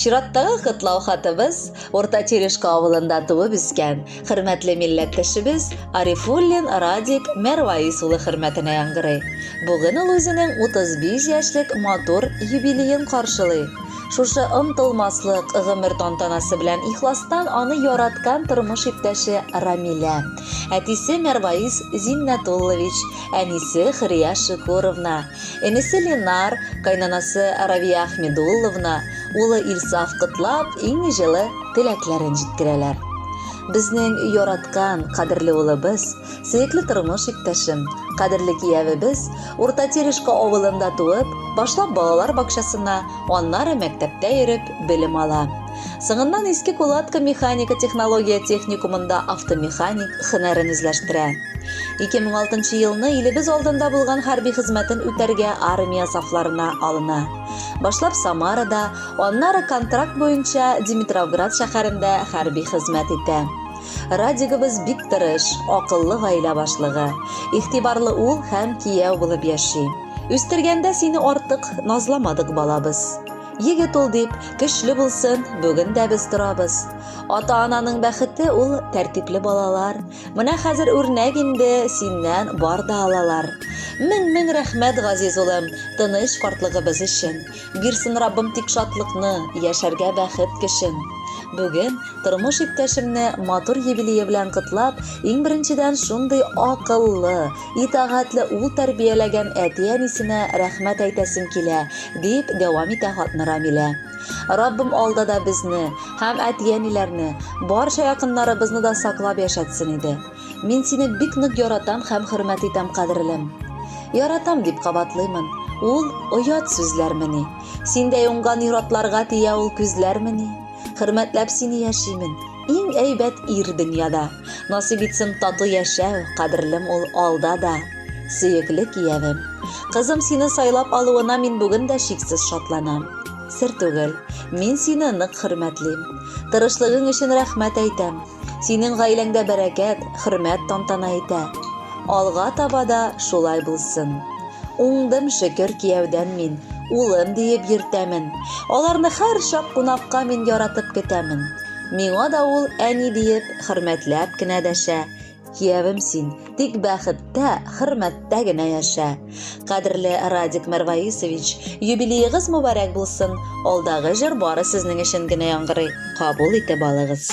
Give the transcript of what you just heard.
Чираттагы котлау хатыбыз Урта Терешка авылында туып үскән хөрмәтле милләттәшебез Арифуллин Радик Мәрваис улы хөрмәтенә яңгырый. Бүген ул үзенең 35 яшьлек матур юбилеен каршылый. Шушы омтылмаслык гомер тантанасы белән ихластан аны яраткан тормыш иптәше Рамилә, Әтисе Мәрваис Зиннәтуллович, әнисе Хөрия Шөкүровна, энесе Ленар, кайнанасы Равия Ахмедулловна, улы Илсаф котлап, иң җылы теләкләрен җиткерәләр. Безнең яраткан, кадерле улыбыз, сөекле тормыш иптәшем, кадерле киявебез Урта Терешка авылында туып, башлап балалар бакчасына, аннары мәктәптә йөреп белем ала. Соңыннан Иске Кулатка механика технология техникумында автомеханик хөнәрен үзләштерә. 2006 елны илебез алдында булган хәрби хезмәтен үтәргә армия сафларына алына. Башлап Самарада, аннары контракт буенча Димитровград шәһәрендә хәрби хезмәт итә. Радигыбыз бик тырыш, акыллы гаилә башлыгы. Игътибарлы ул һәм кияү булып яши. Үстергәндә сине артык назламадык балабыз. Егет ул дип, көчле булсын, бүген дә без торабыз. Ата-ананың бәхете ул тәртипле балалар. Менә хәзер үрнәк инде синнән бар да алалар. Мең-мең рәхмәт, газиз улым, тыныч картлыгыбыз өчен. Бирсен Раббым тик шатлыкны, яшәргә бәхет көчен. Бүген тормыш иптәшемне матур юбилее белән котлап, иң беренчедән шундый акыллы, Итагатьле ул тәрбияләгән әти-әнисенә рәхмәт әйтәсем килә, дип дәвам итә хатны Рамилә. Раббым алда да безне һәм әти-әниләрне, барча якыннарыбызны да саклап яшәтсен иде. Мин сине бик нык яратам һәм хөрмәт итәм, кадерлем. Яратам, дип кабатлыймын. Ул оят сүзләрмени? Синдәй уңган ир-атларга тия ул күзләрмени? Хөрмәтләп сине яшимен. Иң әйбәт ир дөньяда. Насыйп итсен тату яшәү, кадерлем ул алда да. Сөекле киявем. Кызым сине сайлап алуына мин бүген дә чиксез шатланам. Сер түгел, мин сине нык хөрмәтлим. Тырышлыгың өчен рәхмәт әйтәм. Синең гаиләңдә бәрәкәт, хөрмәт тантана итә. Алга таба да шулай булсын. Уңдым шөкер кияүдән мин, улым диеп йөртәмен. Аларны һәрчак кунакка мин яратып көтәмен. Миңа да ул әни диеп, хөрмәтләп кенә дәшә. Киявем син, тик бәхеттә, хөрмәттә генә яшә. Кадерле Радик Мәрваисович, юбилеегыз мубарәк булсын, алдагы җыр бары сезнең өчен генә яңгырый, кабул итеп алыгыз.